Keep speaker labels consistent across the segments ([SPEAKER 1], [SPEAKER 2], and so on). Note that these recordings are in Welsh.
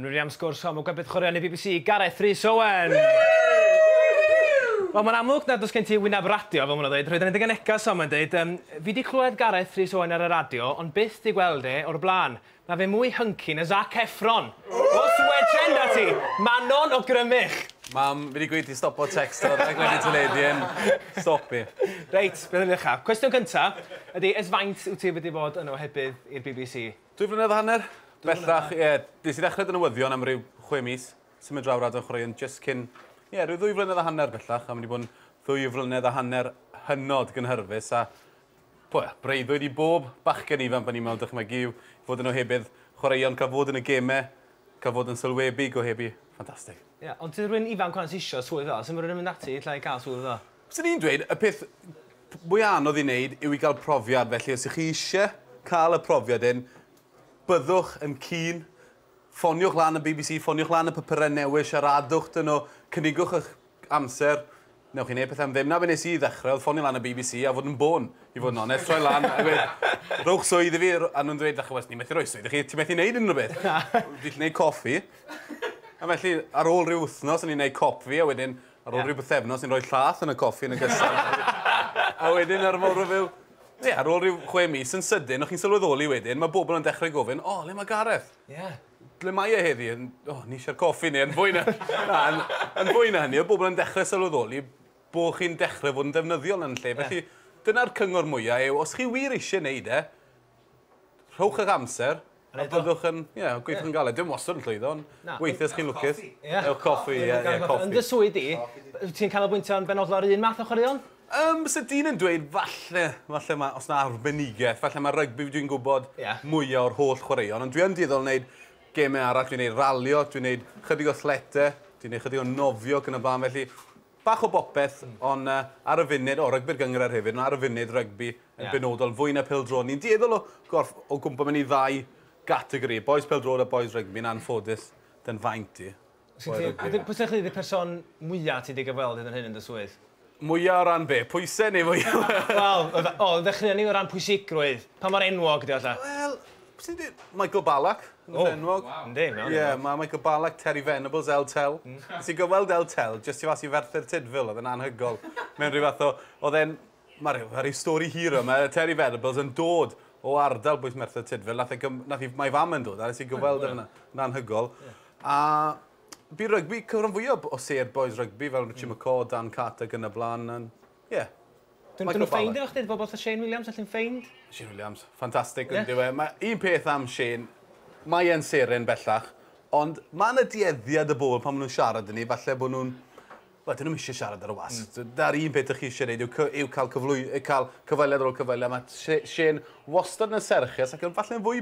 [SPEAKER 1] Yn wir iawn sgwrs hon, mae gwed bydchwaraeon y bbc, Gareth Rhys Owen! Wel mae'n amlwg nad oes gen ti wyneb radio, fel maen nhw'n dweud, rhoed yn dy genegas o, mae'n dweud. Yym, fi di clywed Gareth Rhys Owen ar y radio, ond byth di gweld e o'r blaen. Mae fe mwy hunky na Zac Efron! Os wedren da ti, Manon o Grymych! Mam, fi di gweud ti stopo tecsto, rhaid gweud i ti le di yn. Stopi. Reit, beth am i ni ddechrau? Cwestiwn cynta ydi, ers faint wyt ti wedi bod yn ohebydd i'r bbc? Dwy flynedd a hanner? Bellach, ie. Nes i ddechrau dy newyddion am ryw chwe mis, symud draw radio'n chwaraeon jyst cyn, ie, rhyw ddwy flynedd a hanner bellach, a mae wedi bod yn ddwy flynedd a hanner hynod gynhyrfus, a po, ie, breuddwyd i bob bachgen ifanc pan ni'n mewn dychmygu yw fod yn ohebydd chwaraeon, cael fod yn y gemau, cael fod yn sylwebu, gohebu, ffantastig. Ie, ond ti rywun ifanc wan sy isio swydd fel 'na, sut ma' rywun yn mynd ati ella i gael swydd fel 'na? Swn i'n dweud, y peth mwya anodd i wneud yw i gael profiad, felly os ych chi eisiau cael y profiad hyn, byddwch yn keen, ffoniwch lan y bbc, ffoniwch lan y papurau newydd, siaradwch 'da nhw, cynigwch eich amser, newch chi wneud pethau am ddim. Na be nes i i ddechrau oedd ffonio lan y bbc a fod yn bôn, i fod yn onest, troi lan a gweud rhowch swydd i fi, a nhw'n dweud dach chibod, ni methu rhoi swydd i chi, ti methu wneud unrhyw beth. Fi gallu wneud coffi. A felly, ar ôl rhyw wythnos o'n i'n wneud cop fi a wedyn Ar ôl rhyw bythefnos ni'n rhoi llath yn y coffi yn y gyson a wedyn ar y fore fel Ie, ar ôl rhyw chwe mis, yn sydyn, o'ch chi'n sylweddoli wedyn, mae bobl yn dechrau gofyn, O, le mae Gareth? Ie. Ble mae e heddi? O, ni eisiau'r coffi neu yn fwy na... Na, yn, yn fwy na hynny, oedd bobl yn dechrau sylweddoli bod chi'n dechrau fod yn ddefnyddiol yn lle. Felly, dyna'r cyngor mwyaf yw, os chi wir eisiau gwneud e, rhowch eich amser, a byddwch yn, ie, yeah, gweithio yn galed. Dim wastad yn llwyddo, ond weithiau ydych chi'n lwcus. Ewch coffi, ie, yeah, yeah, coffi. Yn dy swydd di, ti'n canolbwyntio yn benodol ar un math o chwaraeon? Um, so dyn yn dweud, falle, falle mae, os na arbenigaeth, falle mae rygbi dwi'n gwybod yeah. mwyaf o'r holl chwaraeon, ond dwi yn dueddol wneud gemau arall, dwi'n gwneud ralio, dwi'n gwneud chydig o thlete, dwi'n gwneud chydig o nofio ac yn y blaen, felly Bach o bopeth, ond ar y funud, o, rygbi'r gynghrair hefyd, ond ar y funud, rygbi yn benodol, fwy na pêl-droed. Ni'n dueddol o gorff o gwmpo mewn i ddau gategori, bois pêl-droed a bois rygbi, yn anffodus, dy'n faint i. Pwy sy'n credu ydy'r person mwya' ti 'di gyfweld hyd yn hyn yn dy swydd? Mwya' o ran be? Pwysau neu mwya'? Wel, o, ddechreuon ni o ran pwysigrwydd. Pa mor enwog ydy o, ella? Wel, Ti'n deu- Michael Ballack yn y enwog. O, yndi, mae o'n enwog. Ie, mae Michael Ballack, Terry Venables, El Tel. Nes i gyfweld El Tel, jyst tu fas i Ferthyr Tudful, oedd yn anhygol. Mewn rhyw fath o... Oedd e'n... Mae rhyw, mae rhyw stori hir yma. Mae Terry Venables yn dod o ardal bwys Merthyr Tudful. Nath, e gym, nath i, mae fam yn dod, a nes i gyfweld yn yn anhygol. A bu rygbi cyfran fwyaf o sêr boys rygbi, fel Richie mm. McCaw, Dan Carter, gyda blaen. Ie, yeah. Dyn nhw'n ffeind efo chdi, bobl fatha Shane Williams, all nhw'n ffeind. Shane Williams, ffantastig yn diwe. Mae un peth am Shane, mae e'n seren bellach, ond mae yna dueddiad y bobl pan maen nhw'n siarad yn ni, falle bod nhw'n... Wel, dyn nhw'n eisiau siarad ar y was. Mm. Da'r un peth ydych chi eisiau gwneud yw, yw cael, cyflwy, cael cyfweliad ar ôl cyfweliad. Mae Shane wastad yn y serchus ac yn falle'n fwy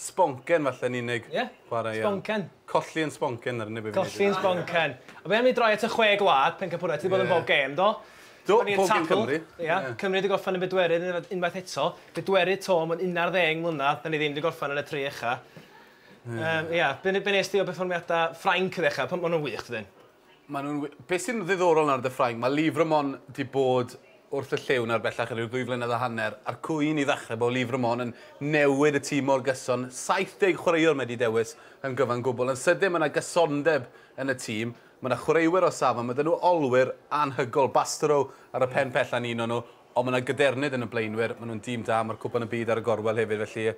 [SPEAKER 1] Sboncen falle yn unig. Ie. Chwarae iawn. Sboncen. Colli yn sboncen yr unig beth fi'n neud. Colli yn sboncen. A be am ni droi at y chwe gwlad, pencampwriaeth, ti 'di bod yn bob gêm do? Do, bob gêm Cymru. Ia, Cymru 'di gorffen yn bedwerydd unf- unwaith eto. Bedwerydd 'to mewn unarddeng mlynadd, 'dan ni ddim 'di gorffen yn y tri ucha. Yym ia, be ne- be nes di o berfformiada Ffrainc ddechra, pan ma' nw'n wych dydyn? Maen nhw'n wy-. Be' sy'n ddiddorol nawr 'da Ffrainc, ma' Lîf Ramon 'di bod wrth y llyw nawr bellach ryw ddwy flynedd a hanner, a'r cwyn i ddechrau bod Lîf Ramon yn newid y tîm mor gyson, 70 chwaraewr mae 'di dewis yn gyfan gwbl. Yn sydyn ma' 'na gysondeb yn y tîm, ma' 'na chwaraewyr o safon, ma' 'da nhw olwyr anhygol, Bastareaud ar y pen pella'n un o nhw, ond ma' 'na gadernid yn y blaenwyr, ma' nhw'n dîm da, ma'r Cwpan y Byd ar y gorwel hefyd felly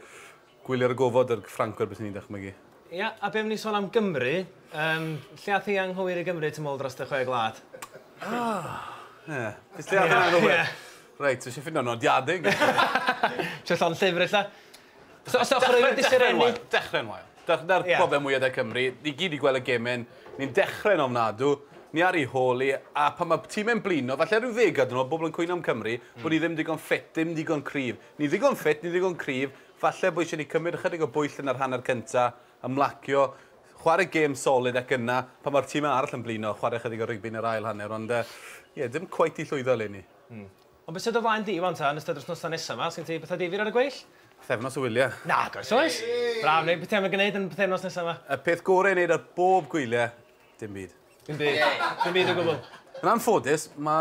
[SPEAKER 1] Gwyliwr y gofod yr Ffrancwyr byswn i'n dychmygu. Ia, a be am ni sôn am Gymru? Yym, lle ath hi anghywir i Gymru tu môl dros y chwe gwlad? Ah! Ie. Jyst lle ath hi'n anghywir? Ie. Reit, dwi isio ffindo nodiadau yn Gymru. Trio llond llyfr ella? So, os ochr rywun sy'n rhennu? Dechrau'n wael. Dyna'r broblem mwya 'da Cymru. Ni gyd 'di gweld y gemau, ni'n dechrau'n ofnadw, ni ar ei hôl i, a pan mae tîm e'n blino, falle rhyw ddeg oed yn ôl, bobl yn cwyno am Cymru, bod ni ddim digon ffit, dim digon cryf. Ni ddigon ffit, ni ddigon cryf, falle bo' isie ni cymryd ychydig o bwyll yn yr hanner cynta, ymlacio, chware gêm solid ac yna, pan mae'r time arall yn blino, chware ychydig o rygbi yn yr ail hanner, ond yy ie, dim cweit 'di llwyddo eleni. Hmm. Ond be' sy do flaen di wan ta, yn ystod yr wsnosa nesa 'ma, sgen ti betha difyr ar y gweill? Pythefnos o wylie. Nag oes oes! Braf, neu be' ti am i gneud yn y pythefnos nesa 'ma? Y peth gore i neud ar bob gwylie, dim byd. Dim byd. Dim byd o gwbwl. Yn anffodus, ma'